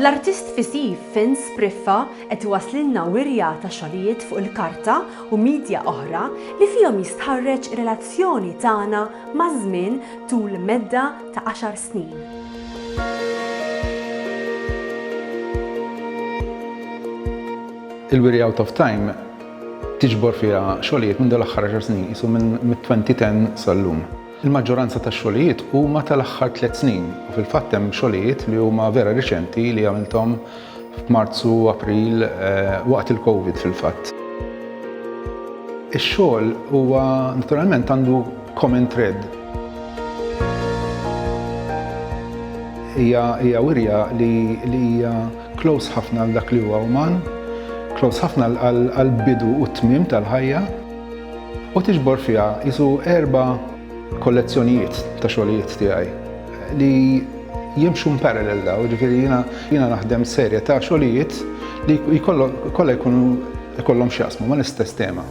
L-artist visiv Vince Spriffa qed iwasslilna wirja ta' xogħlijiet fuq il-karta u midja oħra li fihom jistħarreġ relazzjoni tagħna maż-żmien tul medda ta' għaxar snin. Il-Wirja Out of Time tiġbor fiha xogħlijiet minn dawn l-aħħar għaxar snin, qisu minn mit-2010 sal-lum. Il-maġġoranza tax-xogħlijiet huma tal-aħħar tliet snin u fil-fatt hemm xogħlijiet li huma vera riċenti li għamilthom f'Marzu, April, waqt il-Covid fil-fatt. Ix-xogħol huwa naturalment għandu common thread. Hija wirja li hija. Close ħafna għal dak li huwa uman, close ħafna għall-bidu u t-tmiem tal-ħajja, u tiġbor fiha qisu erba' kollezzjonijiet ta' xogħlijiet tiegħi li jimxu parallel daw, ġifieri jiena jiena naħdem serje ta' xogħlijiet li jkollha jkunu jkollhom x'jaqsmu mal-istess tema.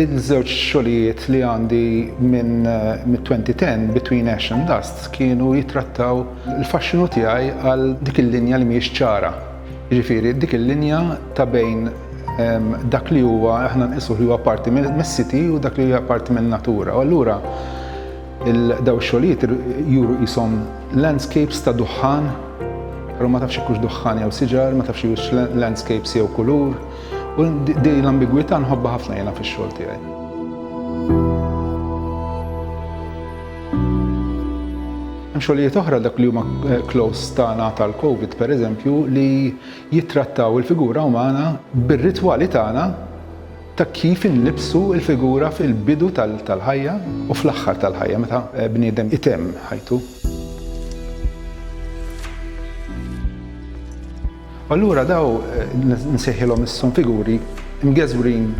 Il-żewġ xogħlijiet li għandi minn mit-2010 Between Ash and Dust kienu jitrattaw il-faxxinu tiegħi għal dik il-linja li mhijiex ċara. Jiġifieri dik il-linja ta' bejn dak li huwa aħna nqisuh li huwa parti mis-city u dak li hija parti min-natura. U allura Dawn ix-xogħlijiet juru qishom landscapes ta' duħħan, però ma tafx hekk duħħan jew siġar, ma tafx hux landscapes jew kulur, u din l-ambigwità nħobbha ħafna jiena fix-xogħol tiegħi. Hemm xogħlijiet oħra dak li huma eh, close tagħna tal-COVID pereżempju li jittrattaw il-figura umana bir-ritwali tagħna ta' kif inlibbsu l-figura fil-bidu tal-ħajja u fl-aħħar tal-ħajja meta bniedem itemm ħajtu. U allura daw nsejħilhom isshom figuri mgeżwrin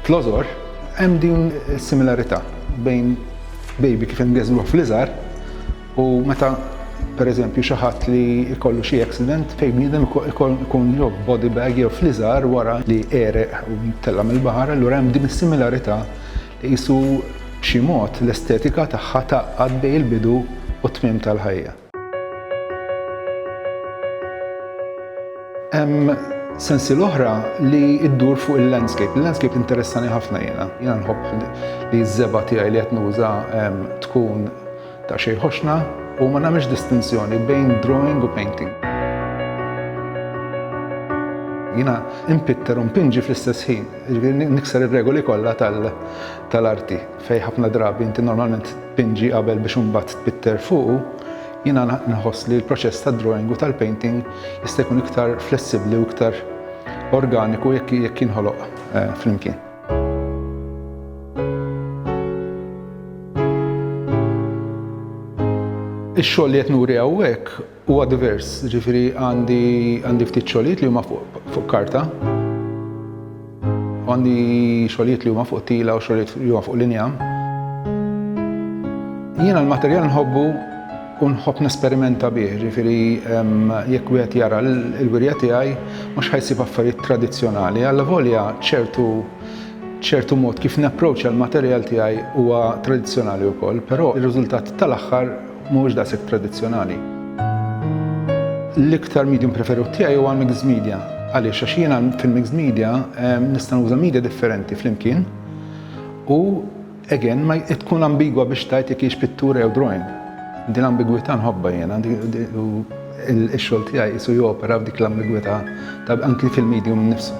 fl-għożor hemm din is-similarità bejn baby kif imgeżwruh fl-iżgħar U meta pereżempju xi ħadd li jkollu xi accident fejn bniedem ikun jew body bag jew fliżar wara li għereq u tella' mill-baħar, allura hemm din is-similarità li qisu b'xi mod l-estetika tagħha tgħaqqad bejn il-bidu u t-tmiem tal-ħajja. Hemm sensiela oħra li ddur fuq il-landscape. Il-landscape interessani ħafna jiena. Jiena nħobb li ż-żebgħa tiegħi li qed nuża tkun Ta' xejn ħoxna u ma nagħmilx distinzjoni bejn drawing u painting. Jiena impitter u mpinġi fl-istess ħin, jiġifieri nikser ir-regoli kollha tal-arti fejn ħafna drabi inti normalment tpinġi qabel biex imbagħad tpitter fuqu, jiena nħoss li l-proċess tad-drawing u tal-painting jista' jkun iktar flessibbli u iktar organiku jekk jinħoloq eh, flimkien. Ix-xogħol li qed nuri hawnhekk huwa divers, ġifieri għandi għandi ftit xogħlijiet li huma fuq karta. Għandi xogħlijiet li huma fuq tila u xogħlijiet li huma fuq linja. Jiena l-materjal nħobbu u nħobb nesperimenta bih, jiġifieri jekk wieħed jara l-wirja tiegħi mhux ħa jsib affarijiet tradizzjonali, allavolja ċertu ċertu mod kif napproċċja l-materjal tiegħi huwa tradizzjonali wkoll, però r-riżultat tal-aħħar mhuwiex daqshekk tradizzjonali. L-iktar medium preferut tiegħi huwa mixed media. Għaliex? Għax jiena fil-mixed media nista' nuża media differenti flimkien u Again, ma tkun ambigwa biex tgħid jekk hix pittura jew drawing. Din l-ambigwità nħobbha jiena u x-xogħol tiegħi qisu jopera f'dik l-ambigwità ta' anki fil-medium innifsu.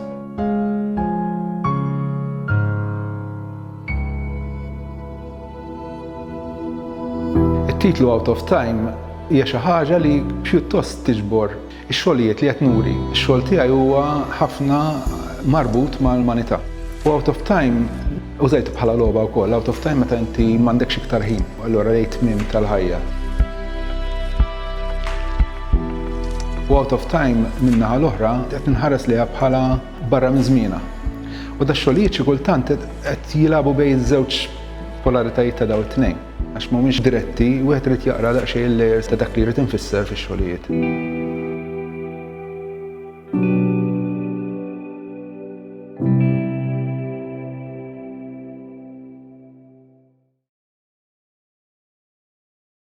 It-titlu Out of Time hija xi ħaġa li pjuttost tiġbor Ix-xogħlijiet li qed nuri, ix-xogħol tiegħi huwa ħafna marbut mal-umanità. U Out of Time użajtu bħala logħba wkoll, out of time meta inti m'għandekx iktar ħin, u allura rejt tmiem tal-ħajja. U Out of Time min-naħa l-oħra qed ninħares liha bħala barra minn żmienha. U dax-xogħlijiet xi kultant qed jilagħbu bejn iż-żewġ polaritajiet ta' dawn it-tnejn. Għax mhumiex diretti, wieħed irid jaqra daqsxejn il-layers ta' dak li jrid infisser fix-xogħlijiet.